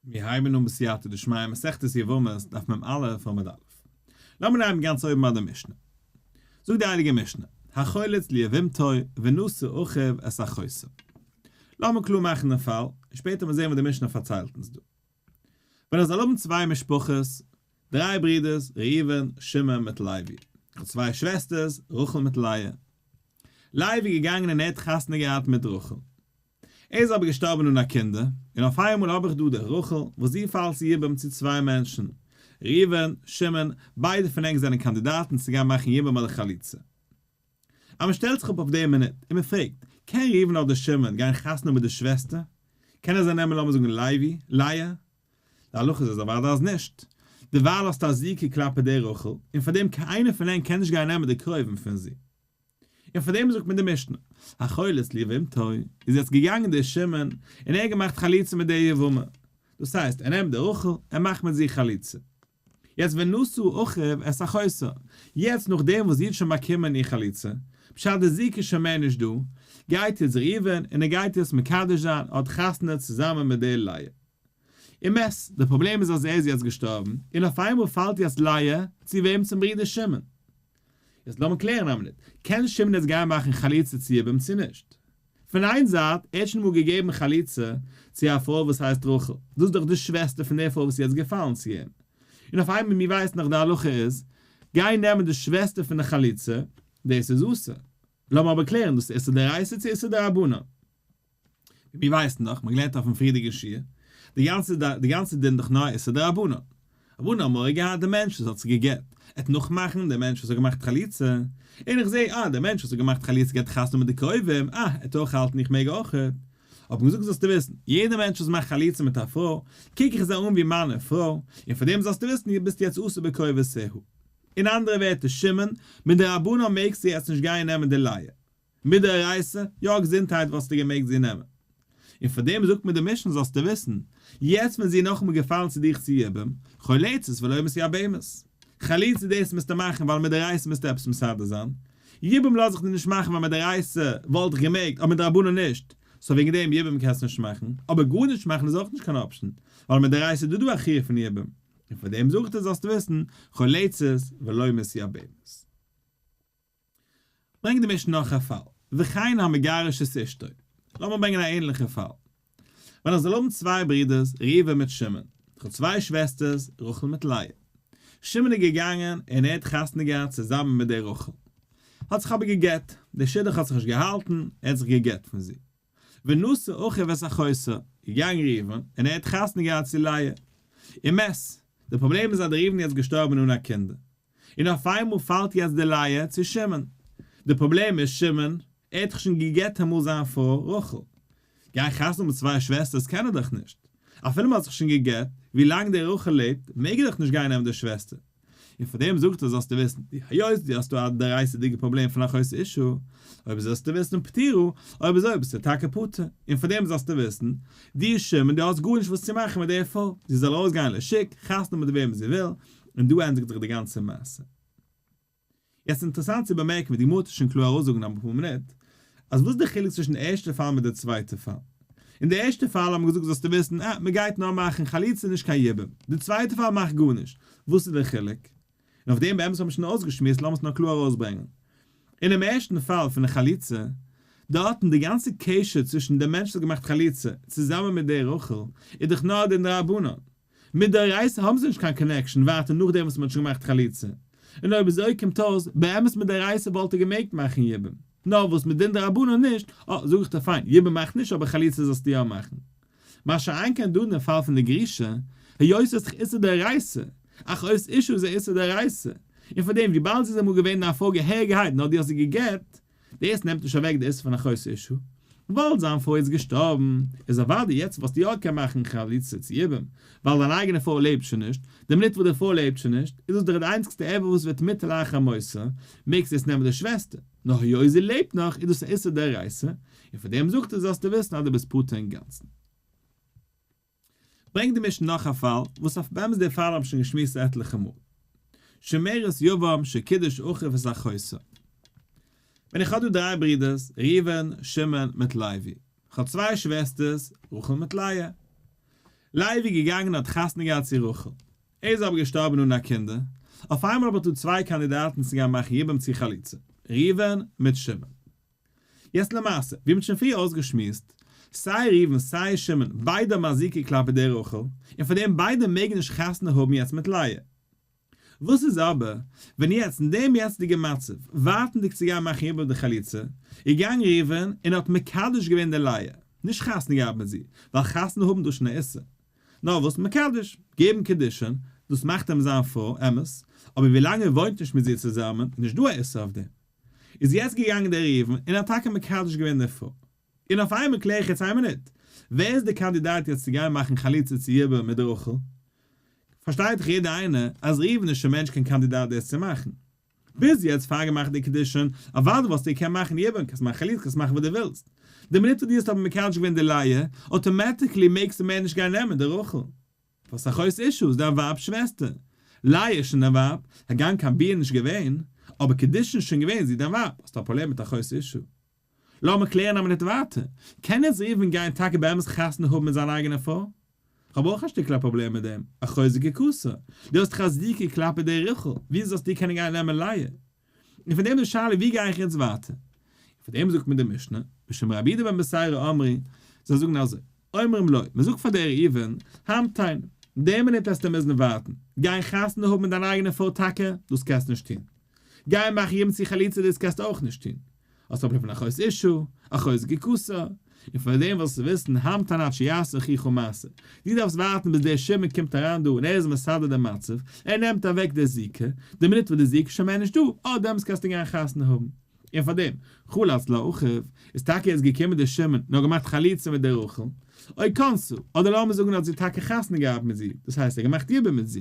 מיר הייבן אן בסייעתא דשמיא מסכת יבמות דף מ א עמוד א'. לאמיר הייבן גאנץ אויבן ביי די משנה. זאגט די הייליגע משנה, החולץ ליבמתו ונשא אחיו את החוסה. לאמיר קלאר מאכן דעם פאל, און שפעטער וועט מען זען וואס די משנה פארציילט אונז דא. ווען איך זאל האבן צוויי משפחות, דריי ברידערס, ראובן, שמעון מיט לוי. איך האב צוויי שוועסטערס, רחל מיט לאה. לוי איז געגאנגען און ער האט חתונה געהאט מיט רחל. ער איז אבער געשטארבען אן א קינדער, און אויף איינמאל האב איך דא די רחל, וואס זי פאלט צו יבום צו צוויי מענטשען, ראובן, שמעון, ביידע פון ענק זענען קאנדידאטען צו גיין מאכען יבום אדער חליצה. אז מען שטעלט זיך אפ אויף די מינוט, און מען פרעגט, קען ראובן אדער שמעון גיין חתונה מיט די שוועסטער? קען ער זיי נעמען לאמיר זאגען לייבי, לאה? להלכה איז עס אוודאי אז נישט. דערווייל האסטו א זיקה כלפי די רחל, און פארדעם קיינער פון ענק קען נישט גיין נעמען די קרובים פון זי. און פאר דעם זאגט מען די משנה, האכולת ליבמתו, איז יעצט געגאנגען דער שמן, און ער האט געמאכט חליצה מיט דער יבמה. דאס הייסט, ער נעמט דער רחל, ער מאכט מיט זי חליצה. יעצט ונשאו אחיו את אחותו, יעצט נאך דעם וואס זי האט שוין באקומען איר חליצה, בשעת דער זוג איז שוין מער נישט דא, גייט יעצט ראובן, און ער גייט יעצט מקדש זיין, ער האט חתונה צוזאמען מיט דער לאה. אמת, דער פראבלעם איז אז ער איז יעצט געשטארבן, און אויף איינמאל פאלט יעצט לאה, צו וועם? צום ברודער שמעון. יעצט לאמיר קלערן א מינוט, קען שמעון יעצט גיין מאכן חליצה צו איבער'ן צו נישט? פון איין זייט, ער האט שוין אמאל געגעבן חליצה צו א פרוי וואס הייסט רחל, דאס איז דאך די שוועסטער פון דער פרוי וואס איז יעצט געפאלן צו אים, און אויף איינמאל, מיר ווייסן דאך די הלכה איז, גיין נעמען די שוועסטער פון די חליצה, דאס איז אסור. לאמיר אבער קלערן דאס איסור דאורייתא צו איסור דרבנן. מיר ווייסן דאך, מיר האבן געלערנט אויפן פריערדיגע שיעור, די גאנצע די גאנצע דין דאך נאר איסור דרבנן. רבנו האט מורא געהאט די מענטש וואס האט זיך גע'גט, ער האט נאכמאכן די מענטש וואס האט געמאכט חליצה, און איך זע אה די מענטש וואס האט געמאכט חליצה געט חתונה מיט די קרובים, אה ער האט אויך האלטן איך מעג אויך, האט מען געזאגט זאלסטו וויסן, יעדע מענטש וואס מאכט חליצה מיט א פרוי, קוק איך זיי אן ווי מיינע פרוי, און פאר דעם זאלסטו וויסן ביסטו יעצט אסור בקרובותיהו. אין אנדערע ווערטער שמעון, מדרבנן מעגסטו יעצט נישט גיין נעמען די לייער. מיט די אורייתא, יא געזונטהייט וואלסטו געמעגט זי נעמען. און פאר דעם זאגט מיר די משנה זאלסטו וויסן, יעצט ווען זי איז נאכאמאל געפאלן צו דיך צו יבם, חולצת ולא מסי הבהמות. חליצה דאס מוזטו מאכן ווייל מיט די אורייתא מוזטו עפעס מסדר זיין, יבום לאז איך דיר נישט מאכן ווייל מיט די אורייתא וואלט איך געמעגט אבער מדרבנן נישט, סאו וועגן דעם יבום קענסטו נישט מאכן, אבער גארנישט מאכן איז אויך נישט קיין אפשן, ווייל מיט די אורייתא איז דא דא א חיוב פון יבום. און פאר דעם זאגט ער זאלסטו וויסן, חולצת ולא מסי הבהמות. ברענג די משנה נאך א פאל. וכן המגרש את אשתו. לאמיר ברענגען א ענליכע פאל. ווען איך זאל האבן צוויי ברודערס, ראובן מיט שמעון. איך האב צוויי שוועסטערס, רחל מיט לאה. שמעון איז געגאנגען און ער האט חתונה געהאט צוזאמען מיט דער רחל. האט זיך אבער גע'גט. דער שידוך האט זיך נישט געהאלטן, ער האט זיך גע'גט פון זי. ונשא אחיו את אחותו. איז געגאנגען ראובן און ער האט חתונה געהאט צו לאה. אמת, דער פראבלעם איז אז דער ראובן איז יעצט געשטארבען אן א קינדער. און אויף איינמאל פאלט יעצט די לייע צו שמעון. די פראבלעם איז שמעון, ער האט דאך שוין גע'גט אמאל זיין פרוי רחל. גיין חתונה האבן מיט צוויי שוועסטערס קען ער דאך נישט. אפילו מ'האט זיך שוין גע'גט, ווי לאנג די רחל לעבט, מעג ער דאך נישט גיין נעמען די שוועסטער. און פאר דעם זאגט ער זאלסטו וויסן, די היות דו האסט דא א דערייסעדיגע פראבלעם פון א חוסר אישו, אויב זאלסטו וויסן פטירו, אויב אזוי ביסטו טאקע פטור. און פאר דעם זאלסטו וויסן, דו שמעון, דו האסט גארנישט וואס צו מאכן מיט די פרוי. זי זאל ארויסגיין לשיק, חתונה מיט וועמען זי וויל, און דא ענדיגט זיך די גאנצע מעשה. יעצט אינטערעסאנט צו באמערקן ווי די גמרא טוט שוין קלאר אויסזאגן אין אפאר מינוט, אז וואס איז די חילוק צווישן די ערשטע פאל מיט די צווייטע פאל? אין די ערשטע פאל האט מען געזאגט זאלסטו וויסן אה מ'גייט נאר מאכן חליצה נישט קיין יבום, די צווייטע פאל מאכט גארנישט, וואס איז די חילוק? און אויף דעם באמת האט מען שוין אויסגעשמועסט לאמיר עס נאר קלאר ארויסברענגן. אינעם ערשטן פאל פון די חליצה, דארט אין די גאנצע קשר צווישן די מענטש וואס האט געמאכט חליצה צוזאמען מיט די רחל איז דאך נאר די דרבנן, מיט די רייסער האבן זיי נישט קיין קאנעקשאן ווייטער נאכדעם וואס מען האט שוין געמאכט חליצה. און אויב אזוי קומט אויס, באמת מיט די רייסער וואלט ער געמעגט מאכן יבום. נאר וואס מיט דין דרבנן נישט, אה, זאג איך דיר פיין, יבום מאכט נישט אבער חליצה זאלסטו יא מאכן. מה שאין כן דא אינעם פאל פון די גרישה, היות עס איז דאך איסור דאורייסא, אך אויס אישו איז ער איסור דאורייסא, און פארדעם וויבאלד זי איז אמאל געווען אין א פרוי געהעריגערהייט נאר דו האסט זי גע'גט, דאס נעמט נישט אוועק די איסור פון הכוסה אישה, וויבאלד זיין פרוי איז געשטארבן, איז אוודאי יעצט וואלסטו יא קענען מאכן חליצה צו איבער, ווייל דיין אייגענע פרוי לעבט שוין נישט, די מינוט וואס די פרוי לעבט שוין נישט, איז דאס דאך די איינציגסטע עבר וואס וועט מוטל אייך א מוסר, מעגסט יעצט נעמען די שוועסטער, נאר היות זי לעבט נאך איז דאס א איסור דאורייתא, און פאר דעם זאגט ער זאלסטו וויסן אז דו ביסט פטור אינגאנצן. ברענגט די משנה נאך א פאל, וואס אויף באמת די פאל האב איך שוין געשמועסט עטליכע מאל. שומרת יבם שקידוש אחיו את החוסה. ווען איך האב דא דריי ברודערס, ראובן, שמעון, מיט לוי. איך האב צוויי שוועסטערס, רחל מיט לאה. לוי איז געגאנגען און האט חתונה געהאט צו רחל. ער איז אבער געשטארבען אן א קינדער. אויף איינמאל האב איך דא צוויי קאנדידאטען צו גיין מאכן יבם צו חליצה. ראובן מיט שמעון. יעצט למעשה, ווי מ'האט שוין פריער אויסגעשמועסט, סיי ראובן סיי שמעון ביידע האבן א זיקה כלפי די רחל, און פאר דעם ביידע מעגן נישט חתונה האבן יעצט מיט לאה. וואס איז אבער ווען יעצט אין דעם יעצטיגע מצב, ווארטנדיג צו גיין מאכן איבער די חליצה, איז געגאנגען ראובן און האט מקדש געווען די לאה, נישט חתונה געהאט מיט זי, ווייל חתונה האבן דאס שוין א איסור, נאר וואס מקדש, געבן קידושין, דאס מאכט אים זיין פרוי, אמת, אבער ווי לאנג ער וואוינט נישט מיט זי צוזאמען איז נישט דא א איסור אויף דעם. איז יעצט געגאנגען דער ראובן און האט טאקע מקדש געווען די פרוי. און אויף איינמאל קלער איך יעצט איין מינוט, ווער איז די קאנדידאט יעצט צו גיין מאכן חליצה צו יבער מיט רחל? פארשטייט דאך יעדער איינער אז ראובן איז שוין מער נישט קיין קאנדידאט דאס צו מאכן. ביז יעצט פארגעמאכט די קידושין, אוודאי וואלסטו געקענט מאכן יבער, קענסט מאכן חליצה, קענסט מאכן וואס דו ווילסט. די מינוט וואס דו האסט אבער מקדש געווען די לייע, אוטאמעטיקלי מעגסטו מער נישט גיין נעמען די רחל. וואס א חוסר אישות דיין ווייב'ס שוועסטער? לאה איז שוין דיין ווייב, הגם קיין ביאה נישט געווען, אבער קידושין איז שוין געווען, זי איז דיין ווייב, האסט א פראבלעם מיט א חוסר אישות? לאמיר קלערן א מינוט ווייטער, קען איצט ראובן גיין טאקע באמת חתונה האבן מיט זיין אייגענע פרוי? כ'האב אויך א שטיקל א פראבלעם מיט דעם, א חוזק יקוסר, דו האסט חזקה כלפי די רחל, וויאזוי זאלסטו קענען גיין נעמען לאה? און פון דעם די שאלה ווי גיי איך יעצט ווייטער? און פון דעם זאגט מיר די משנה, בשם רבי יהודה בן בשערא אמרי, זיי זאגן אזוי, אומרים לו, מען זאגט פאר דער ראובן, המתן, די מינוט העסטו מוזן ווארטן, גיי חתונה האבן מיט דיין אייגענע פרוי טאקע, דאס קענסטו נישט טון, גיי מאך ימ צ חליצה, דאס קענסטו אויך נישט טון. האסט אבער פון אחוז אישו, אחוז גקסא, און פון דעם זאלסטו וויסן המתן עד שיעשה אחיך מעשה. דו דארפסט ווארטן ביז דער שמד קומט אריין דא און ער איז מסדר דעם מצב, ער נעמט אוועק דער זיקה, די מינוט וואס דער זיקה איז שוין מער נישטא, אט דעמאלטס קענסטו גיין חתונה האבן. און פאר דעם, חלה אצל האחיו, איז טאקע יעצט געקומען דער שמד און האט געמאכט חליצה מיט דער רחל, אוי קאנסו, אדער לאמיר זאגן ער האט זי טאקע חתונה געהאט מיט זי, דאס הייסט ער האט געמאכט יבום מיט זי.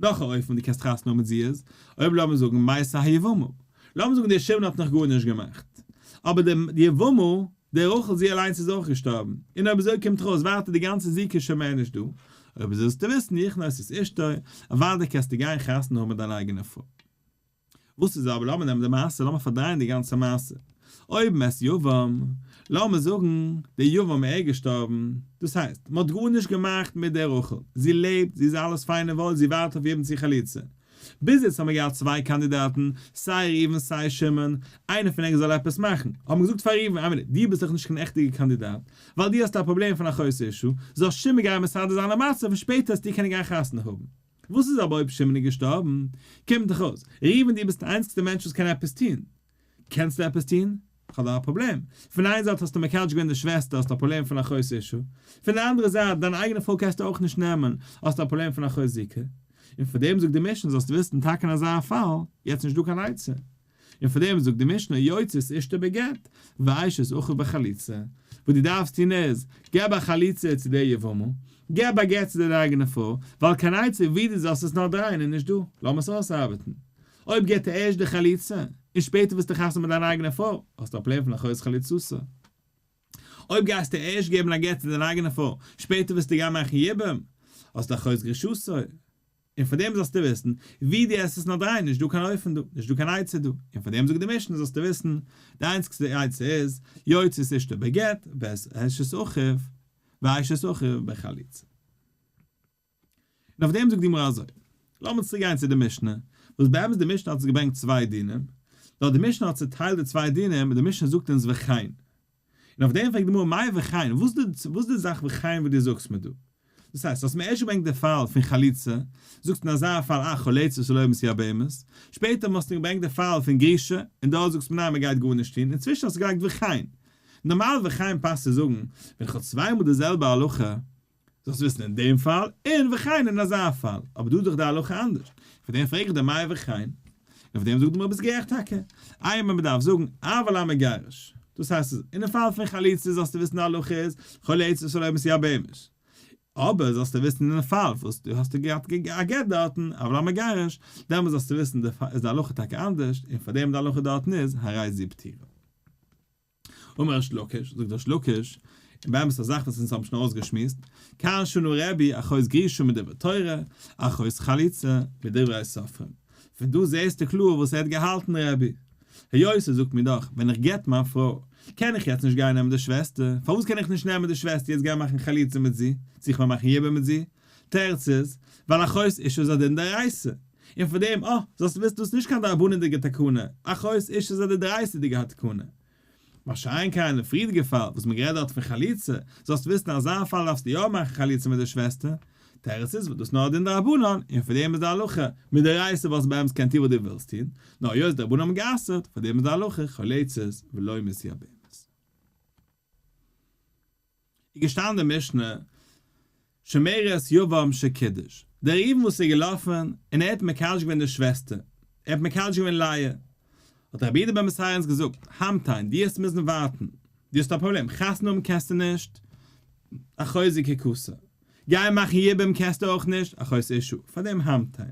נאך א אופן ווי דו קענסט חתונה האבן מיט זי איז, אויב לאמיר זאגן מעשה היבמה, לאמיר זאגן דער שמעון האט נאך גארנישט געמאכט, אבער די יבמה, די רחל זי אליינס איז אויך געשטארבן, און אויב אזוי קומט ארויס ווייטער די גאנצע זיווג איז שוין מער נישט דא, אויב אזוי זאלסטו וויסן איך נוס את אשתו, אוודאי קענסטו גיין חתונה האבן מיט דיין אייגענע פרוי. וואס איז אבער, לאמיר נעמען די מעשה, לאמיר פארדרייען די גאנצע מעשה, אויב מען עסט יבם, לאמיר זאגן די יבם איז געשטארבן, דאס הייסט, מען האט גארנישט געמאכט מיט די רחל, זי לעבט, זי איז אלעס פיין און וואויל, זי ווארט אויף יבם צו חליצה. ביז יעצט האבן מיר געהאט צוויי קאנדידאטן, סיי ראובן סיי שמעון, איינער פון ענק זאל עפעס מאכן, האט מען געזאגט פאר ראובן, איי מינוט, דו ביסט דאך נישט קיין עכטיגע קאנדידאט, ווייל דו האסט א פראבלעם פון א חוסר ישע, זאל שמעון גיין מסדר זיין א מצב און שפעטער העסטו קענען גיין חתונה האבן. וואס איז אבער אויב שמעון איז געשטארבן? קומט דאך אויס, ראובן דו ביסט די איינציגסטע מענטש וואס קען עפעס טון. קענסטו עפעס טון? כ'האב דא א פראבלעם. פון איין זייט האסטו מקדש געווען די שוועסטער, האסט א פראבלעם פון אחות אישה. פון די אנדערע זייט, דיין אייגענע פרוי קענסטו אויך נישט נעמען, האסט א פראבלעם פון אחות זיקה. און פאר דעם זאגט די משנה, זאלסטו וויסן, טאקע אין אזא פאל, יעצט נישט דא קיין עצה. און פאר דעם זאגט די משנה יוצאת אשתו בגט ואשת אחו בחליצה, וואס דו דארפסט טון איז, געב א חליצה צו דער יבמה, געב א גט צו דער אייגענער פרוי, ווייל קיין עצה ווי דו זאלסט עס נאר דרייען איז נישט דא, לאמיר עס אויסארבעטן, אויב געבט ער ערשט די חליצה, און שפעטער וועסטו חתונה מיט דיין אייגענע פרוי, האסטו א פלען פון אחרית חליצתו. אויב גייסטו ערשט געבן א גט צו דיין אייגענע פרוי, שפעטער וועסטו גיין מאכן יבום, האסטו אחרית גרישתו. און פאר דעם זאלסטו וויסן, ווי דו עסט עס נאר דריי, נישט דא קיין אופן דא, נישט דא קיין עצה דא, און פאר דעם זאגט די משנה זאלסטו וויסן, די איינציגסטע עצה איז, יוצא את אשתו בגט, ואת אשת אחיו, ואשת אחיו בחליצה. און אויף דעם זאגט די גמרא אזוי. לאמיר צוריק גיין צו די משנה, וואס באמת די משנה האט עס געברענגט צוויי דינים, נאר די משנה האט צוטיילט די צוויי דינים, די משנה זאגט אונז וכן. און אויף דעם פרעגט די גמרא מאי וכאין, וואס די וואס די זאך וכאין וואס דו זאגסט מיר דא? דאס הייסט, האסט מיר ערשט געברענגט די פאל פון חליצה, זאגסט אין אזא פאל אה חליצה שלא ימות יער בהמות, שפעטער מאסט מיר געברענגט די פאל פון גרישה, און דארט זאגסט מיר ניין מען גייט גארנישט טון, אינצווישן האסטו געלייגט וכאין. נארמאל וכאין פאסט צו זאגן, ווען איך האב צוויי מאל די זעלבע הלכה, זאלסט וויסן אין דעם פאל און וכן אין אזא פאל, אבער דא איז דאך די הלכה אנדערש, פאר דעם פרעג איך דיר מאי וכן, און פאר דעם זאגט די גמרא ביסט גערעכט טאקע, איי מען באדארף זאגן אב על המגרש, דאס הייסט אז אינעם פאל פון חליצה זאלסטו וויסן די הלכה איז חליצה שלא מסיעה בהמש, אבער זאלסטו וויסן אינעם פאל וואס דו האסט געהאט א גט דארטן אב על המגרש, דעמאלס זאלסטו וויסן איז די הלכה טאקע אנדערש, און פאר דעם די הלכה דארטן איז הרי זיו פטירה. אמר ריש לקיש, זאגט ריש לקיש, און באמת א זאך וואס אונז האבן שוין אויסגעשמועסט, קאן שנו רבי אחוץ גרישא מדברי תורה, אחוץ חליצה מדברי סופרים. פון דא זעסטו קלאר וואס ער האט געהאלטן רבי. היות ער זאגט מיר דאך ווען איך גט מיין פרוי קען איך יעצט נישט גיין נעמען די שוועסטער, פארוואס קען איך נישט נעמען די שוועסטער יעצט גיין מאכן חליצה מיט זי, זיך באמאכן יבם מיט זי, תירץ איז, ווייל א חוס איש איז א דין דאורייסא. און פון דעם, אה, זאלסטו וויסן דאס איז נישט קיין דרבנן'דיגע תקנה, א חוס איש איז א דדרייסא'דיגע התקנה. מה שאין כן אין פריערדיגע פאל, וואס מען גערעדט דארט פון חליצה, זאלסטו וויסן אין אזא פאל דארפסטו יא מאכן חליצה מיט די שוועסטער. תירץ איז, ווייל דאס איז נאר א דין דרבנן, און פון דעם איז די הלכה, מדאורייסא וואלסטו באמת געקענט טון וואס דו ווילסט טון, נאר היות די רבנן האבן גע'אסר'ט, פון דעם איז די הלכה, חליצות ולא מסיע בהמות. איז געשטאנען די משנה, שומרת יבם שקידוש, דער ראובן וואס איז געלאפן און ער האט מקדש געווען די שוועסטער, ער האט מקדש געווען לאה, האט דער רבי דער בן מסערנס געזאגט, המתן, דו האסט מוזן ווארטן, דו האסט א פראבלעם, חתונה האבן קענסטו נישט, א חוזק ככסא, גייען מאכן יבום קענסטו אויך נישט, א חוזק אישו, פאר דעם המתן.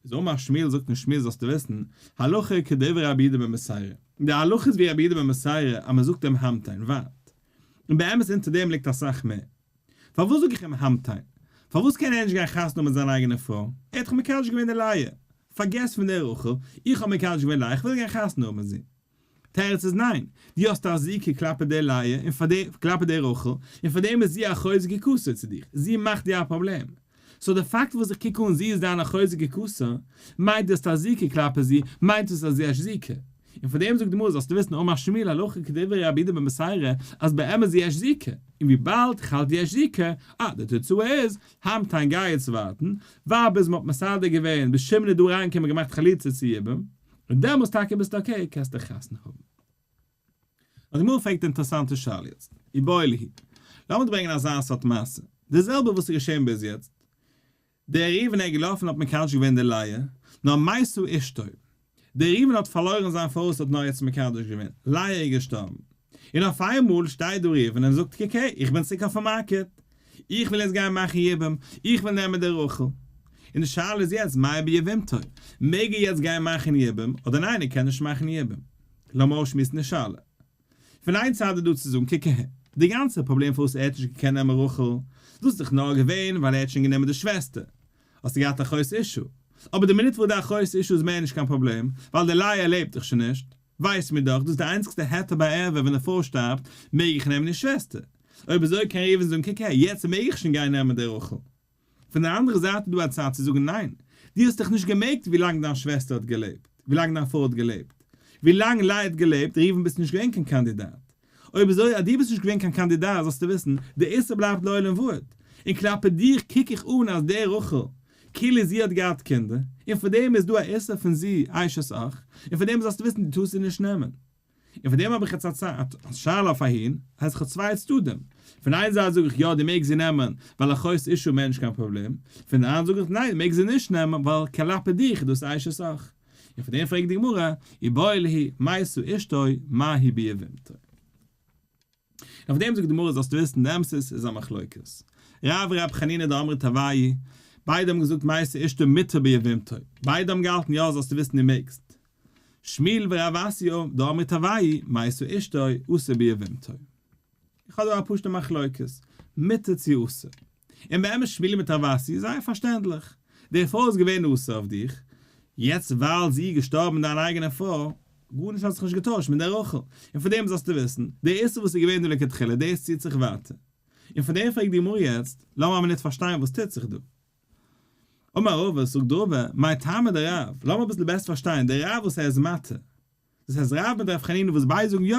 איז אמר שמואל זאגט אים שמואל זאלסטו וויסן, הלכה כדברי רבי יהודה בן מסיירא, די הלכה איז ווי רבי יהודה בן מסיירא אז מען זאגט אים המתן, ווארט, און באמת אונטער דעם ליגט אסאך מער, פארוואס זאג איך אים המתן? פארוואס קען ער נישט גיין חתונה האבן מיט זיין אייגענע פרוי? ער האט דאך מקדש געווען די לייע, פארגעס פון דער רחל, איך האב מקדש געווען לייע, איך וויל גיין חתונה האבן מיט זי. תירוץ איז ניין, דו האסט א זיקה כלפי די לאה און פאר די, כלפי די רחל, און פאר דעם איז זי א חוזק'ע כוסה צו דיך, זי מאכט דיר א פראבלעם. סאו די פאקט וואס איך קוק אן זי איז דיין א חוזק'ע כוסה, מיינט דו האסט א זיקה כלפי זי, מיינט עס אז דו האסט זיקה. און פאר דעם זאגט די גמרא זאלסטו וויסן אום השמי' להלכה כדברי רבי יהודה בן בשארה, אז באמת זי האסט זיקה, און וויבאלד כ'האלט דו האסט זיקה, אה, די תוצאה איז, המתן גיי יעצט ווארטן, ווייל ביז מ'האט מסדר געווען, ביז שמעון איז דא אריינגעקומען און געמאכט חליצה צו יבם, און דעמאלס טאקע ביסטו אקעי קענסטו חתונה האבן. די גמרא פרעגט די אינטערעסאנטע שאלה יעצט, ובאי ליהי, לאמיר ברענגען אזא סארט מעשה, די זעלבע וואס איז געשען ביז יעצט, דער ראובן איז געלאפן האט מקדש געווען די לאה, נאר מאי עשו אשתו, דער ראובן האט פארלוירן זיין פרוי וואס האט נאר יעצט מקדש געווען, לאה איז געשטארבן, און אויף איינמאל שטייט דא ראובן און זאגט קעקע איך בין צוריק אויפן מארקעט, איך וויל יעצט גיין מאכן יבום, איך וויל נעמען די רחל, און די שאלה איז יעצט מאי ביבימתו, מעג ער יעצט גיין מאכן יבום אדער ניין ער קען נישט מאכן יבום, לאמיר אויסשמועסן די שאלה. פון איין צד איז דא צו זאגן קעקע די גאנצע פראבלעם פארוואס ער האט נישט געקענט נעמען רחל, דאס איז דאך נאר געווען ווייל ער האט שוין גענומען די שוועסטער, האסטו געהאט א חוסר אישו, אבער די מינוט וואס די א חוסר אישו איז מער נישט קיין פראבלעם, ווייל די לייער לעבט דאך שוין נישט, ווייסט מיר דאך, דאס איז די איינציגסטע היתר ביי ערווה, ווען די פרוי שטארבט, מעג איך נעמען איר שוועסטער. אויב אזוי קען ראובן זאגן, קוק הער, יעצט מעג איך שוין גיין נעמען די רחל. פון די אנדערע זייט איז דא א צד צו זאגן, ניין, דו האסט דיך נישט געמעקט ווילאנג דיין שוועסטער האט געלעבט, ווילאנג דיין פרוי האט געלעבט, ווילאנג לאה האט געלעבט, ראובן ביסטו נישט געווען קיין קאנדידאט. אויב אזוי אז דו ביסט נישט געווען קיין קאנדידאט זאלסטו וויסן, די איסור בלייבט לעולם ועד. און כלפי דיך קוק איך אן אז די רחל, כאילו זי האט געהאט קינדער, און פאר דעם איז דא א איסור פון זי אשת אח, און פאר דעם זאלסטו וויסן דו טארסט זי נישט נעמען. און פאר דעם האב איך יעצט א שאלה אויף אהין, אז איך האב צוויי צדדים. פון איין זייט זאג איך יא דו מעגסט זי נעמען, ווייל א חוסר אישה מער נישט קיין פראבלעם, פון די אנדערע זאג איך ניין דו מעגסט זי נישט נעמען, ווייל כלפי דיך איז דאס אשת אח. און פון דעם פרעגט די גמרא, אי באי להי מאי שא אשתו מאי הי' ביה ואימתא. און פון דעם זאגט די גמרא זאלסטו וויסן די אמת'ס איז א מחלוקת רב ורב חנינא דאמרי טבעי, ביידע האבן געזאגט מאי שא אשתו מיתה ביה ואימתא, ביידע האבן געהאלטן יא זאלסטו וויסן די מעגסט, שמואל ורב אסי' דאמרי טבעי מאי שא אשתו אסור ביה ואימתא. איך האב דא א פשוט'ע מחלוקת, מותר צו אסור. און באמת שמואלי מיט רב אסי איז זייער פארשטענדליך. די פרוי איז געווען אסור אויף דיך, יעצט ווייל זי איז געשטארבן דיין אייגענע פרוי, גארנישט האט זיך נישט געטוישט מיט די רחל. און פון דעם זאלסטו וויסן, די איסור וואס איז געווען דא לכתחילה דאס ציט זיך ווייטער. און פון דעם פרעגט די גמרא יעצט, לאמיר א מינוט פארשטיין וואס טוט זיך דא. אמר רבא, זאגט רבא, מאי טעמא דרב, לאמיר אביסל בעסער פארשטיין, די רב וואס ער איז מתיר, דאס הייסט רב מיט רב חנינא וואס ביידע זאגן יא.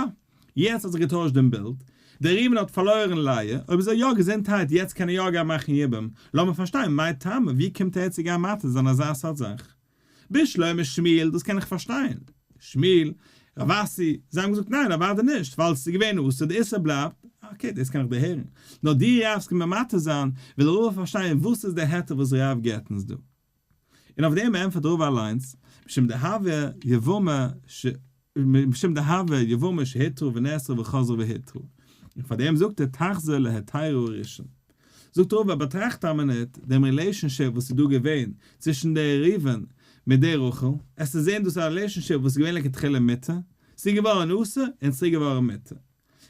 יעצט האט זיך געטוישט דעם בילד. דער רימון האט פארלוירן לייע, אויב איז ער יא געזונטהייט יעצט קען ער יא גיין מאכן יבום, לאמיר פארשטיין מאי טעמא ווי קומט ער יעצט צו גיין מטריד זיין אזא סארט זאך? ב שלמה שמיל דאס קען איך פארשטיין. שמיל, רב אסי, זיי האבן געזאגט ניין אוודאי נישט ווייל עס איז געווען אסור די איסור בלייבט, אקעי דאס קען איך דערהערן. נאר די רב וואס קומט ממטריד זיין וויל ר ר פארשטיין וואס איז די היתר וואס רב געט אונז דא. און אויף דעם ענטפערט רבא אליינס, משום דהוה יבמא ש משום דהוה יבמא שהיתרו ונאסרו וחזרו והיתרו, און פאר דעם זאגט ער תחזור להתירו הראשון. זאגט רבא, באטראכט א מינוט דעם רילעישאנשיפ וואס איז דא געווען צווישן די ראובן מיט די רחל, עסטו זען דאס א רילעישאנשיפ וואס איז געווען לכתחילה מותר, ס'איז געווארן אסור און ס'איז צוריק געווארן מותר.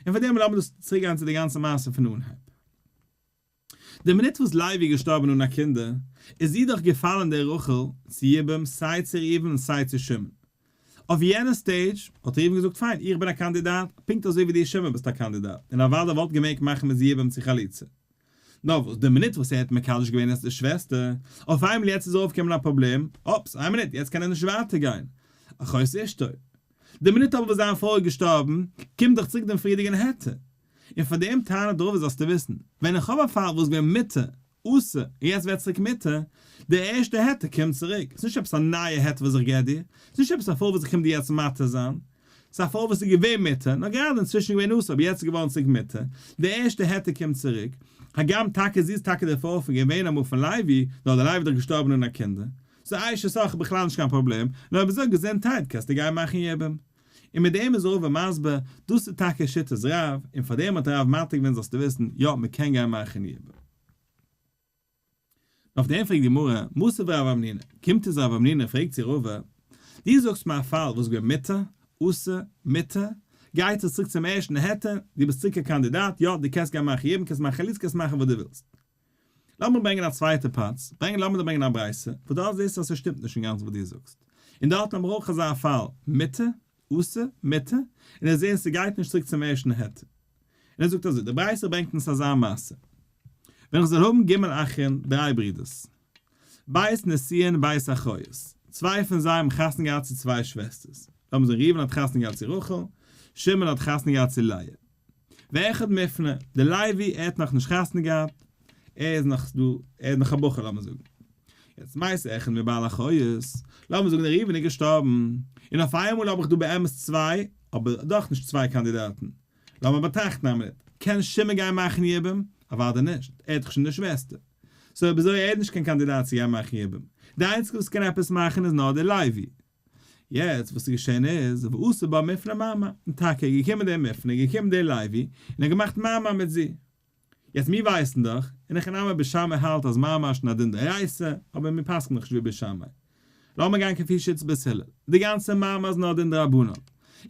און פאר דעם לאמיר דאס צוריקגיין צו די גאנצע מעשה פון אנהייב. די מינוט וואס לייבי איז געשטארבען אן א קינדער, איז איר דאך געפאלען דער רחל צו יבם סיי צו ראובן און סיי צו שמעון. אויף יענע סטעידזש האט ראובן געזאגט פיין איך בין א קאנדידאט, פונקט אזוי ווי דו שמעון ביסט א קאנדידאט, און אוודאי וואלט געמעגט מאכען מיט יבם צו חליצה. נאר וואס די מינוט וואס ער האט מקדש געווען אז די שוועסטער, אויף איינמאל יעצט איז אויפגעקומען א פראבלעם, אופס איין מינוט יעצט קען ער נישט ווייטער גיין, אחוץ אשתו. די מינוט אבער וואס זיין פרוי איז געשטארבען, קומט דאך צוריק דעם פריערדיגען העטער און פאר דעם טענה דערויף זאלסטו וויסן, ווען איך האב א פאל וואס געווען מיתה, אסור, און יעצט ווערט צוריק מיתה, דער ערשטער היתר קומט צוריק, ס'נישט עפעס א נייע היתר וואס איך געב דיר, ס'נישט עפעס א פאל וואס איך קום דיר יעצט מתיר זיין, ס'איז א פאל וואס איז געווען מיתה, נאר גראדע אינצווישן געווען אסור אבער יעצט איז געווארן צוריק מיתה, דער ערשטער היתר קומט צוריק, הגם טאקע זי איז טאקע דער פאר פון געווען אמאל פון לייבי, נאר דער לייבי איז דאך געשטארבן אן א קינדער, סאו אייש אסאך איז בכלל נישט קיין פראבלעם, נאר אויב איז דא געזונטהייט קענסטו גיין מאכן יבום. און מיט דעם איז ראובן מסביר, דאס איז טאקע שיטת רב, און פאר דעם האט רב מעתיק געווען זאלסטו וויסן, יא, מען קען גיין מאכן ייבום. און אויף דעם פרעגט די גמרא, מוסיף רב אמנינא, קומט איז רב אמנינא און פרעגט צו ראובן, דו זאגסט מיר א פאל וואס געווען מותר, אסור, מותר, גייט עס צוריק צום ערשטן היתר, דו ביסט צוריק א קאנדידאט, יא, דו קענסט גיין מאכן ייבום, קענסט מאכן חלוצה, קענסט מאכן וואס דו ווילסט. לאמיר דיר ברענגען א צווייטע פלאץ, ברענג לאמיר דיר ברענגען א ברייתא, וואס דארט זעסטו אז ס'שטימט נישט אינגאנצן וואס דו זאגסט. און דארט האבן מיר אויך אזא פאל, מיתה, עשה, מיתה, און ער זעהט ס'גייט נישט צוריק צום ערשטן היתר. און ער זאגט אזוי, די ברייתא ברענגט אונז אזא מעשה, ווען איך זאל האבן ג' אחים, דריי ברידערס, בית נשיאין בית אחיות, צוויי פון זיי האבן חתונה געהאט צו צוויי שוועסטערס, לאמיר זאגן ראובן האט חתונה געהאט צו רחל, שמעון האט חתונה געהאט צו לאה. ואחד מפנה, דער לייבי, ער האט נאך נישט חתונה געהאט, ער איז נאך דא, ער איז נאך א בחור לאמיר זאגן, יעצט מאיזה אחד מבעל החיות, לאמיר זאגן דער ראובן איז געשטארבן, און אויף איינמאל האב איך דא באמת צוויי, אבער דאך נישט צוויי קאנדידאטן, לאמיר באטראכטן א מינוט, קען שמעון גיין מאכן יבום? אוודאי נישט, ער האט דאך שוין די שוועסטער, סאו אויב אזוי איז ער נישט קיין קאנדידאט צו גיין מאכן יבום, די איינציגע וואס קען עפעס מאכן איז נאר דער לייבי. יעצט וואס איז געשען איז, ועשה בה מפנה מאמה, און טאקע איז געקומען די מפנה, איז געקומען די לוי, און האט געמאכט מאמה מיט זי. יעצט מיר ווייסן דאך, און הכי נמי בית שמאי האלט אז מאמה איז שוין א דין דאורייתא, אבער מיר פסק'ן דאך נישט ווי בית שמאי. לאמיר גיין כפי שיטת בית הלל, די גאנצע מאמה איז נאר א דין דרבנן,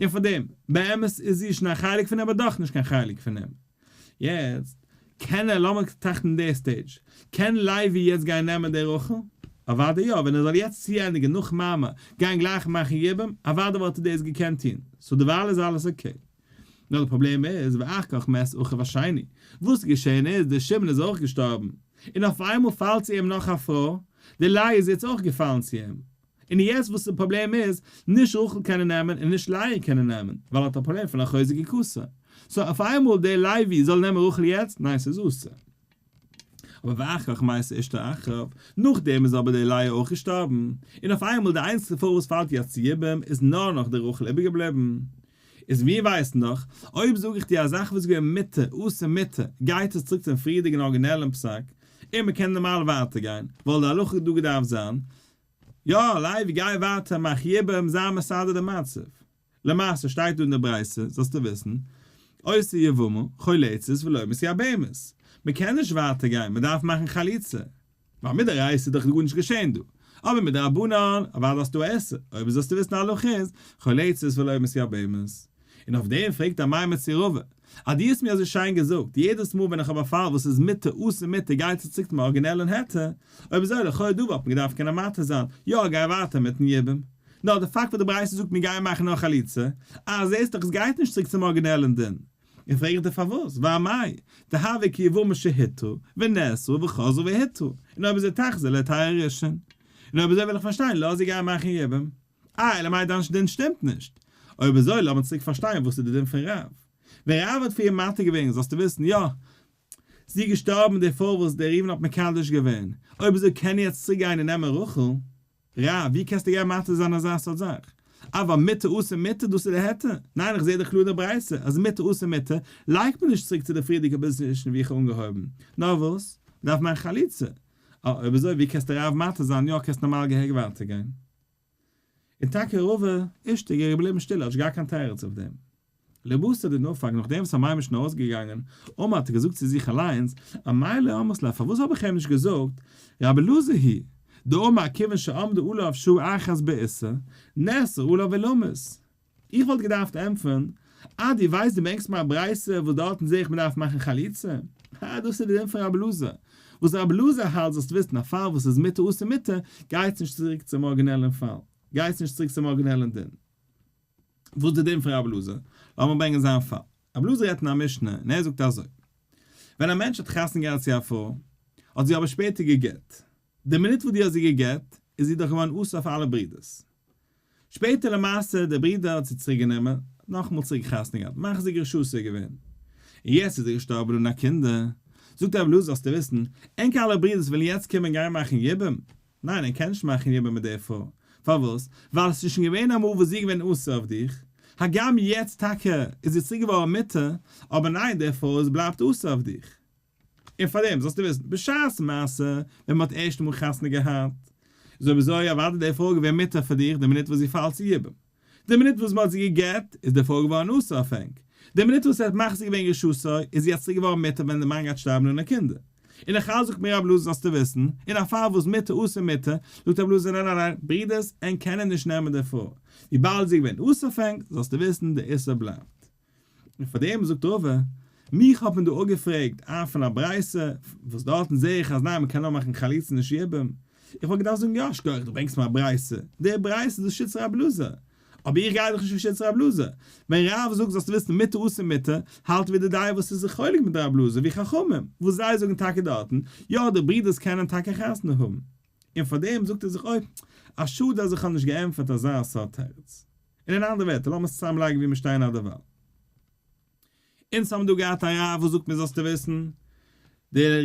און פארדעם, באמת איז זי שוין א חלק פון אים אבער דאך נישט קיין חלק פון אים. יעצט קען ער, לאמיר טראכטן די סטעידזש, קען לייבי יעצט גיין נעמען די רחל? אוודאי יא, ווען ער זאל יעצט צוענדיגן נאך מאמע, גיין גלייך מאכן יבום, אוודאי וואלט ער דאס געקענט טון, סאו דערווייל איז אלעס אקעי. נאר די פראבלעם איז ואח כך מת אחיו השני, וואס איז געשען איז דער שמעון איז אויך געשטארבן, און אויפאיינמאל פאלט צו אים נאך א פרוי, די לייב איז יעצט אויך געפאלן צו אים, און יעצט וואס די פראבלעם איז, נישט רחל קענען נעמען און נישט לאה קענען נעמען, ווייל ער האט א פראבלעם פון א חוזק כסא. סאו אויף איינמאל דער לוי זאל נעמען רחל יעצט? ניין ס'איז אסור. אבער ואחריך מתה אשתו אחריו, נאכדעם איז אבער דער לאה אויך געשטארבן, און אויף איינמאל די איינציגסטע פרוי וואס פאלט יעצט צו יבם איז נאר נאך די רחל איבערגעבליבן. איז מיר ווייסן דאך, אויב זאג איך דיר א זאך וואס איז געווען מותר, אסור מותר, גייט עס צוריק צום פריערדיגן ארגינעלן פסק, און מ'קען נארמאל ווייטער גיין, ווייל די הלכה האט דא געדארפט זיין, יא, לייב גיי ווייטער מאך יעבערעם זיין מסדר די מצב. למעשה שטייט דא אין די ברייתא, זאלסטו וויסן, עושה יבמה, חולצת ולא מסיע בהמות. מען קען נישט ווייטער גיין, מען דארף מאכן חליצה. ווייל מדאורייתא איז דאך גארנישט געשען דא. אבער מדרבנן, אוודאי האסטו א עשר, אויב זאלסטו וויסן א הלכה איז, חולצת ולא מסיע בהמות. און אויף דעם פרעגט ער מאי מצערובא, אז דו האסט מיר אזוי שיין געזאגט, יעדעס מאל ווען איך האב א פאל וואס איז מיתה אסור מיתה גייט צו צוקט מיין ארגינעלען היתר, אויב אזוי לכאו' דא וואלט מען געדארפט קענען מתיר זיין, יא גיי ווייטער מיטן יבום. נאר די פאקט וואס די ברייתא זאגט מיר גייען מאכן נאר חליצה, אה זעהסט דאך עס גייט נישט צוריק צום ארגינעלען דין. און פרעגט ער פארוואס, ואא מאי, דהוה כי יבומים שהיתרו, ונאסרו, וחזרו והיתרו, און אויב איז ער תחזיר להתיר ראשון, און אויב אזוי וויל איך פארשטיין לאז זיי גייען מאכן יבום. אה, אלא מאי דיין דין שטימט נישט. אויב אזוי לאמיר צוריק פארשטיין וואס איז די דין פון רב. ווען רב האט פאר איר מתיר געווען זאלסטו וויסן יא, זי איז געשטארבן די פרוי וואס דער ראובן האט מקדש געווען, אויב אזוי קען ער יעצט צוריק גיין און נעמען רחל. רב, ווי קענסטו גיין מתיר זיין אזא סארט זאך? אבער מיתה עושה מיתה, דאס איז די היתר? ניין איך זעה דאך קלאר די ברייתא אז מיתה עושה מיתה לייגט מען נישט צוריק צו די פריערדיגע פאזישן ווי איך האב אנגעהויבן, נאר וואס? מען דארף מאכן חליצה. אה, אויב אזוי ווי קענסטו רב מתיר זיין יא קענסט נארמאל געהעריג ווייטער גיין. און טאקע רוב אישתיגע איז געבליבן שטיל האטש גאר קיין תירוץ אויף דעם. לבסוף די נפק נאכדעם וואס המים איז שוין אויסגעגאנגען אמה האט ער געזאגט צו זיך אליינס א מיילער אמות לה פארוואס האב איך איהם נישט געזאגט רבי אלעזר הי ד אמר כיוון שעמדו עליו שעה אחת בעיסה נעשה עליו עולמות איך וואלט געדארפט ענטפערן, אה דו ווייסט דו ברענגסט מיר א ברייתא וואס דארטן זע איך מען דארף מאכן חליצה? אה דאס איז די דין פון רבי אלעזר, וואס רבי אלעזר האלט זאלסטו וויסן א פאל וואס איז מיתה אסור מיתה, גייטס נישט צוריק צום ארגינעלען פאל, גייטס נישט צוריק צום ארגינעלען דין, וואס די דין פון רבי אלעזר, לאמיר ברענגען זיין פאל, רבי אלעזר רעדט אין א משנה און ער זאגט אזוי, ווען א מענטש האט חתונה געהאט צו א פרוי, האט זי אבער שפעטער גע'גט, די מינוט וואס דו האסט זי געגעט איז זי דאך געווארן אסור אויף אלע ברידערס. שפעטער למעשה דער ברידער האט זי צוריק גענומען, נאכאמאל צוריק חתונה געהאט, מחזיק רשות איז ער געווען. און יעצט איז ער געשטארבן אן א קינדער. זאגט רבי אלעזר זאלסטו וויסן, ענק אלע ברידערס ווילן יעצט קומען גיין מאכן יבום. ניין ער קען נישט מאכן יבום מיט דער פרוי. פארוואס? ווייל עס איז שוין געווען אמאל וואס זי איז געווען אסור אויף דיך. הגם יעצט טאקע איז זי צוריק געווארן מותר, אבער ניין דער פרוי איז בלייבט אסור אויף דיך. און פאר דעם זאלסטו וויסן, בשעת מעשה, ווען מען האט ערשטע מאל חתונה געהאט, איז אביזוי אוודאי די פרוי געווען מותר פאר דיך די מינוט וואס זי פאלט צו יבם. די מינוט וואס מען האט זי גע'גט, איז די פרוי געווארן אסור אויף ענק. די מינוט וואס ער האט מחזיר געווען רשעותו, איז זי אצוריק געווארן מותר ווען די מאן גייט שטארבן אן א קינדער. און איך אלס זאגט מיר רב לוזי זאלסטו וויסן, אין א פאל וואס מותר אסור מותר, זאגט רב לוזי ניין ניין ניין, ברודערס, ענק קענען נישט נעמען די פרוי. וויבאלד זי איז געווען אסור אויף ענק, זאלסטו וויסן, די איסור בלייבט. און פאר דעם זאגט רבא, מיך האט מען דא אפגעפרעגט א פון א ברייתא, וואס דארטן זעה איך אז ניין מען קען נאר מאכן חליצה אין די שעיבום, איך וואלט געדארפט זאגן יא שכוח דו ברענגסט מיר א ברייתא, די ברייתא איז דאס שיטת רב אלעזר, אבער איך גיי דאך נישט לפי שיטת רב אלעזר, ווען רב זאגט זאלסטו וויסן מותר אסור מותר, האלט ווי די דיין וואס איז זיך חולק מיט רב אלעזר ווי חכמים וואס זיי זאגן טאקע דארטן יא די ברודערס קענען טאקע חתונה האבן, און פאר דעם זאגט ער זיך אוי, א שאד אז איך האב נישט געענטפערט אזא סארט תירוץ. און אין אנדערע ווערטער, לאמיר עס צוזאם לייגן וואו מיר שטייען אט דערווייל. אונז האבן דא געהאט א רב וואס זאגט מיר זאלסטו וויסן, דער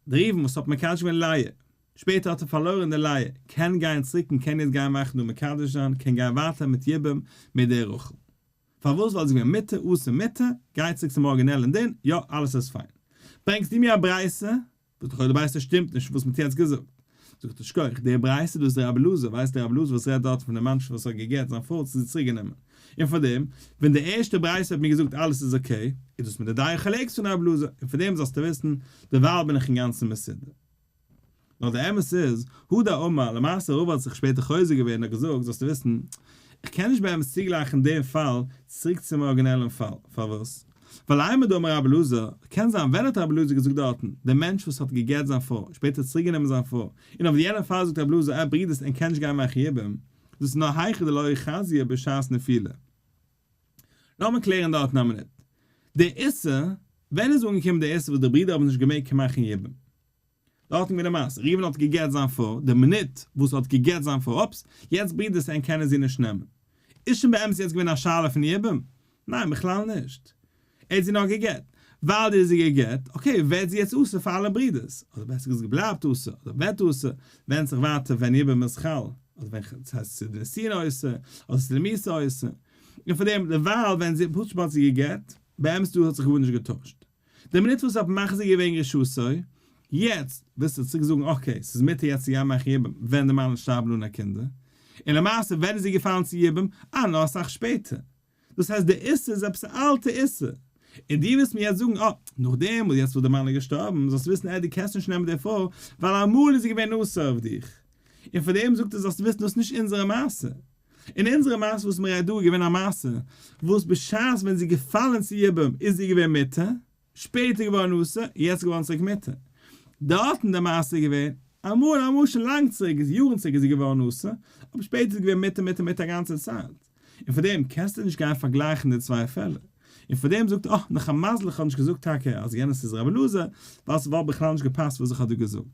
ראובן וואס האט מקדש געווען לאה, שפעטער האט ער פארלוירן די לאה, קען גיין צוריק און קען יעצט גיין מאכן און מקדש זיין, קען גיין ווייטער מיט יבום מיט דער רחל. פארוואס? ווייל זי איז געווען מיתה עשה מיתה, גיי צוריק צום ארגינעלען דין, יא אלעס איז פיין. ברענגסט דו מיר א ברייתא זאגט לכאורה די ברייתא שטימט נישט וואס מען האט יעצט געזאגט. זאגט ער שכח, די ברייתא דא איז די רבי אלעזר, ווייסט די רבי אלעזר וואס רעדט דארט פון די מנשה'לע וואס האט גע'גט זיין פרוי צו זיך צוריק גענומען, און פאר דעם, ווען די ערשטע ברייתא האט מיר געזאגט אלעס איז אקעי, איז דאס מיט די דייע חלקת פון רבי אלעזר, און פאר דעם זאלסטו וויסן, דערווייל בין איך אינגאנצן מסודר. נאר די אמת איז, הוא דאי אמר, למעשה רבא האט זיך שפעטער חוזר געווען און האט געזאגט, זאלסטו וויסן, איך קען נישט באמת צוגלייכן דעם פאל צוריק צום ארגינעלען פאל, פארוואס? ווייל עמא דאמר רבי אלעזר, קען זיין ווען האט רבי אלעזר געזאגט דארטן, דער מענטש וואס האט גע'גט זיין פרוי, שפעטער צוריק גענומען זיין פרוי, און אויף די יענע פאל זאגט רבי אלעזר אה ברידערס ער קען נישט גיין מאכן יבום, דאס איז נאר היכי דלא חזי בשעת נפילה. לאמיר קלערן דארטן א מינוט. דער איסור, ווען איז אנגעקומען דער איסור וואס די ברידער האבן נישט געמעגט מאכן יבום? דארטן ווי למעשה ראובן האט געגעט זיין פרוי, די מינוט וואס ער האט געגעט זיין פרוי, אופס, יעצט ברודער סעם קענען זי נישט נעמען. איז שוין באמת יעצט געווען א שאלה פון יבום? ניין בכלל נישט. ער האט זי נאר געגעט. ווייל דו האסט זי געגעט, אקעי, ווערט זי יעצט אסור פאר אלע ברודערס, אדער בעסער געזאגט בלייבט אסור, אדער ווערט אסור, ווענדט זיך ווייטער ווען יבום איז חל, אדער ווען ח ס הייסט עס איז ניסיון אסור, אדער עס איז למעשה אסור. און פארדעם, דערווייל ווען זי, פשוט ווייל זי האט זי געגעט, באמת דא האט זיך גארנישט געטוישט. די מינוט וואס האט מחזיר געווען רשעותו, יעצט ווילסטו צוריק זאגן אקעי ס'איז מותר יעצט צו יא מאכן יבום ווען די מאמע'לע שטארבן אן א קינדער, און למעשה ווען איז זי געפאלן צו יבום? אה נאר אסאך שפעטער, דאס הייסט די איסור איז עפעס א אלטע איסור, און די ווילסט מיר יעצט זאגן אה נאכדעם וואס יעצט וואס די מאמע'לע געשטארבן זאלסטו וויסן עה די קענסט נישט נעמען די פרוי ווייל אמאל איז זי געווען אסור אויף דיך, און פארדעם זאגט ער זאלסטו וויסן דאס איז נישט אונזערע מעשה. אין אונזערע מעשה וואס מ'רעדט דא איז געווען א מעשה וואס בשעת ווען זי איז געפאלען צו יבם איז זי געווען מותר, שפעטער געווארען אסור, יעצט געווארען צוריק מותר. דארט אין די מעשה איז געווען אמאל אמאל שוין לאנג צוריק איז יארען צוריק איז זי געווארען אסור, אבער שפעטער איז געווען מותר מותר מותר א גאנצע צייט. און פאר דעם קענסטו נישט גיין פארגלייכען די צוויי פעלער. און פאר דעם זאגט אה נאך א מזל איך האב נישט געזאגט טאקע אז יענעס איז ר' אלעזר ווייל ס'וואלט בכלל נישט געפאסט וואס איך האב דא געזאגט.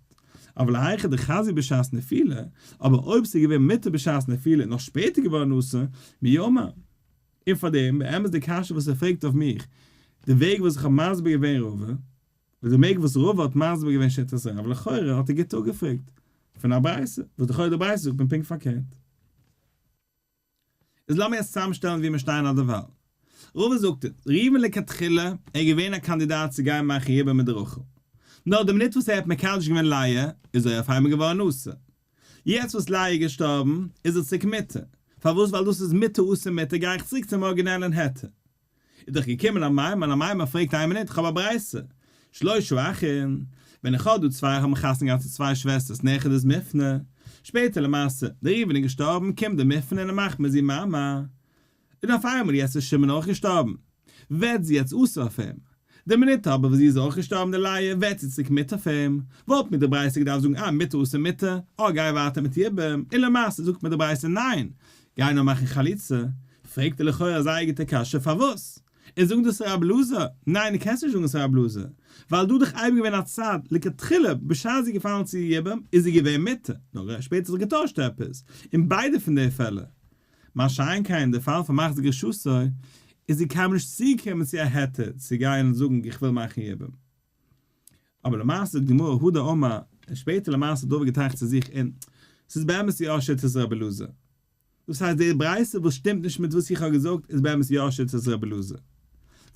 אבער להיכא דחזי בשעת נפילה, אבער אויב ס'איז געווען מותר בשעת נפילה און נאך שפעטער געווארן אסור, מי יאמר? און פאר דעם, באמת די קשיא וואס ער פרעגט אויף מיך, די וועג וואס איך האב מסביר געווען רבא, און די מעג וואס רבא האט מסביר געווען שיטת רב, לכאורה האט ער גוט אפגעפרעגט פון א ברייתא, וואס לכאורה די ברייתא זאגט מען פונקט פארקערט. איז לאמיר עס צוזאמשטעלן ווי מיר שטייען אט דערווייל. ראובן זאגט אונז, ראובן לכתחילה איז געווען א קאנדידאט צו גיין מאכן ייבום מיט רחל. נאר די מינוט וואס ער האט מקדש געווען לאה, איז ער אויפאיינמאל געווארן נשא. יעצט וואס לאה איז געשטארבן, איז ער צוריק מותר. פארוואס? ווייל דאס איז מותר אסור מותר, גיי איך צוריק צום ארגינעלען היתר. איז דאך געקומען א מיימאן, א מיימאן פרעגט איין מינוט, איך האב א ברייתא, שלושה אחים, ווען איך האב דא צוויי האבן חתונה געהאט צו צוויי שוועסטערס נכד איז מפנה, שפעטער למעשה, דער ראובן איז געשטארבן, קומט דער מפנה און ער מאכט מיט זי מיימאן, און אויף איינמאל יעצט איז שמעון אויך געשטארבן, ווערט זי יעצט אסור אויף אים, די מינוט אבער וואס זי איז אויך געשטארבן די לייע ווערט זי צוריק מיתה פון אים, וואלט מיר די ברייתא געדארפט זאגן אה מיתה עשה מיתה, אה גיי ווייטער מיט איר ביים, און למעשה זאגט מיר די ברייתא ניין! גיי נאר מאכן חליצה, פרעגט ער לכאורה א זייער גוטע קשיא פארוואס איז זאגן דאס ר' אלעזר, ניין די קענסט נישט זאגן עס ר' אלעזר, ווייל דא דאך אייביג געווען א צד, לכתחילה בשעת זי איז געפאלן צו איר יבם איז זי געווען מיתה, נאר שפעטער האט זיך געטוישט עפעס, אין ביידע פון די פעלער מה שאין כן אין די פאל פון מחזיק רשותו, איז זי קיינמאל נישט צוגעקומען צו א היתר צו גיין און זאגן איך וויל מאכן יבום. אבער למעשה זאגט גמרא הוד א אמה, און שפעטער למעשה האט דוד געטראכט צו זיך און ס'איז באמת יא שיטת רבי אלעזר. דאס הייסט די ברייתא וואס שטימט נישט מיט וואס איך האב געזאגט איז באמת יא שיטת רבי אלעזר.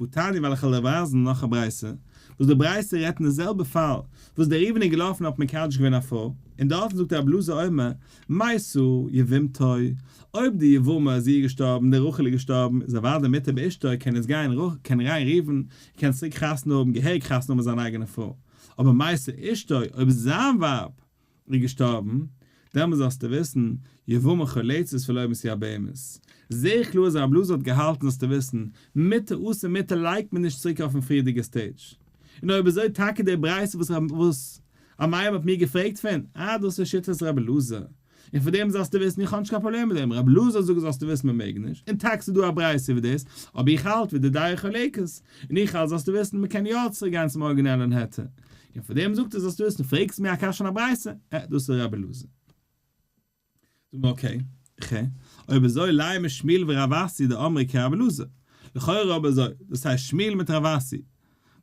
וואו תני וועל איך אלל ווייזן נאך א ברייסע וואס די ברייסע רעדט אין די זעלבע פאל וואס דער ראובן איז געלאפן האט מקדש געווען א פרוי און דארטן זאגט דער בלאזע אומר מאי סא יבמתו אויב די יבמה זי איז געשטארבן די רחל איז געשטארבן איז אוודאי מותר באשתו קען יעצט גיין קען ריין ראובן קען צוריק חתונה האבן געהעריג חתונה האבן מיט זיין אייגענע פרוי אבער מאי סא אשתו אויב זיין ווייב און געשטארבן, דעמאלס זאלסטו וויסן, יבמ ח לצות ולא מסיע בהמות. זעה קלאר אז הרב לאזאר האט געהאלטן זאלסטו וויסן, מיתה עשה מיתה לייגט מען נישט צוריק אויפן פריערדיגע סטעידזש. און אויב אזוי טאקע די ברייתא וואס רב וואס א מיימר האט מיר געפרעגט פון, אה דאס איז שיטת רב אלעזר. און פון דעם זאלסטו וויסן איך האב נישט קיין פראבלעם מיט דעם, רב אלעזר זאגט זאלסטו וויסן מען מעג נישט, און טאקע ס'דא א ברייתא איבער דאס, אבער איך האלט ווי די דעה חולקת, און איך האלט זאלסטו וויסן מען קען יא צוריק גיין צום ארגינעלען היתר. און פאר דעם זאגט ער זאלסט דו עסן, פרעגסט מיר א קשיא און א ברייתא, אה, דאס איז רבי אלעזר. זאגן מיר אקעי, ח, אויב אזוי לייען מיר שמואל ורב אסי דאמרי כרבי אלעזר, לכאורה אויב אזוי, דאס הייסט שמואל מיט רב אסי,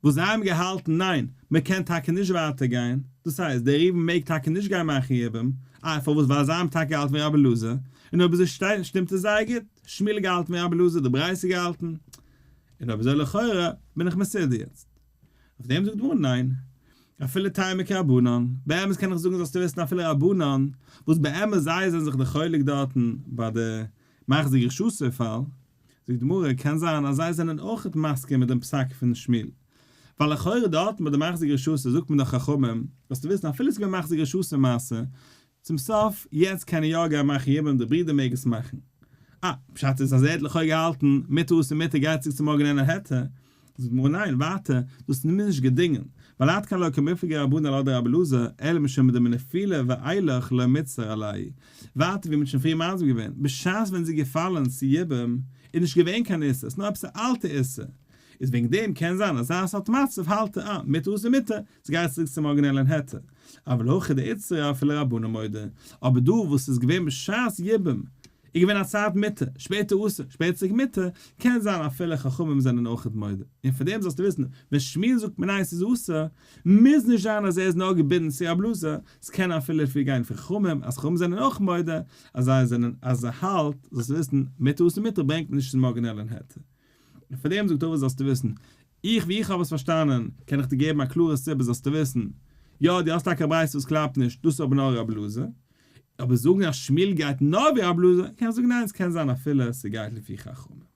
וואס זיי האבן געהאלטן ניין, מען קען טאקע נישט ווייטער גיין, דאס הייסט, דער ראובן מעג טאקע נישט גיין מאכן יבום, אה, פארוואס, ווייל זיי האבן טאקע געהאלטן ווי רבי אלעזר, און אויב אזוי שטימט עס זייער גוט, שמואל האט געהאלטן ווי רבי אלעזר, די ברייתא האט געהאלטן, און אויב אזוי לכאורה, בין איך מסודר יעצט. אויף דעם זאגט גמרא ניין, אפילו טעימה כרבנן, באמת קען איך זאגן זאלסטו וויסן אפילו רבנן, וואס באמת זייער זענען זיך די חולק דארטן ביי די מחזיק רשעותו פאל, זאגט גמרא, קען זיין אז זיי זענען אויכעט מסכים מיט דעם פסק פון שמואל, ווייל לכאורה דארטן ביי די מחזיק רשעותו זאגט מען דאך חכמים, זאלסטו וויסן אפילו ס'איז געווען מחזיק רשעותו מעשה, צום סוף, יעצט קען ער יא גיין מאכן יבם, די ברודער מעג עס מאכן. אה, פשט איז אז ער האט לכאו' געהאלטן מיט האס און מיט ער גייט צוריק צו מארגן אין העטה. זאגט די גמרא ניין, ווייטער, דאס איז מיר נישט געדינגען, ווייל עד כאן לא כמפלגי רבן אלעא דרבי אלעזר, אלא משום דעם נפילה ואילך לא מצר עלי'. ווייטער ווי מען האט שוין פריער מסביר געווען, בשעת ווען עס איז געפאלן צו יבם, איז נישט געווען קיין איסור, עס איז נאר עפעס א אלטע איסור, איז וועגן דעם קען זיין אז זייער סארט מצב האלט ער אה, מיט האס און מיט ער, עס גייט צוריק צום ארגינעלען היתר. אבל הכי דאיצטרא אפילו רבנן מודה. אבער דא וואס ס'איז געווען בשעת יבם, איז געווען א צייט מותר, שפעטער אסור, שפעטער צוריק מותר, קען זיין אפילו חכמים זענען אויכעט מודה. און פון דעם זאלסטו וויסן, ווען שמואל זאגט מנין ס'איז אסור, מוז נישט זיין אז ער איז נאר געבינדן צו א בלאזע, ס'קען אפילו לפי גיין פון חכמים, אז חכמים זענען אויך מודה, אז זיי זענען, אז ער האלט, זאלסטו וויסן, מותר אסור מותר ברענגט נישט צום ארגינעלען היתר. פאר דעם זאגט ער אבער זאלסטו וויסן, איך ווי איך האב עס פארשטאנען, קען איך דיר געבן א קלארע סיבה זאלסטו וויסן, יא דו האסט טאקע א ברייתא וואס קלאפט נישט, דאס איז אבער נאר רב לוזי, אבער זאגן אז שמואל גייט נאר ווי רב לוזי, קען איך זאגן ניין עס קען זיין אפילו ס'גייט לפי חכמים.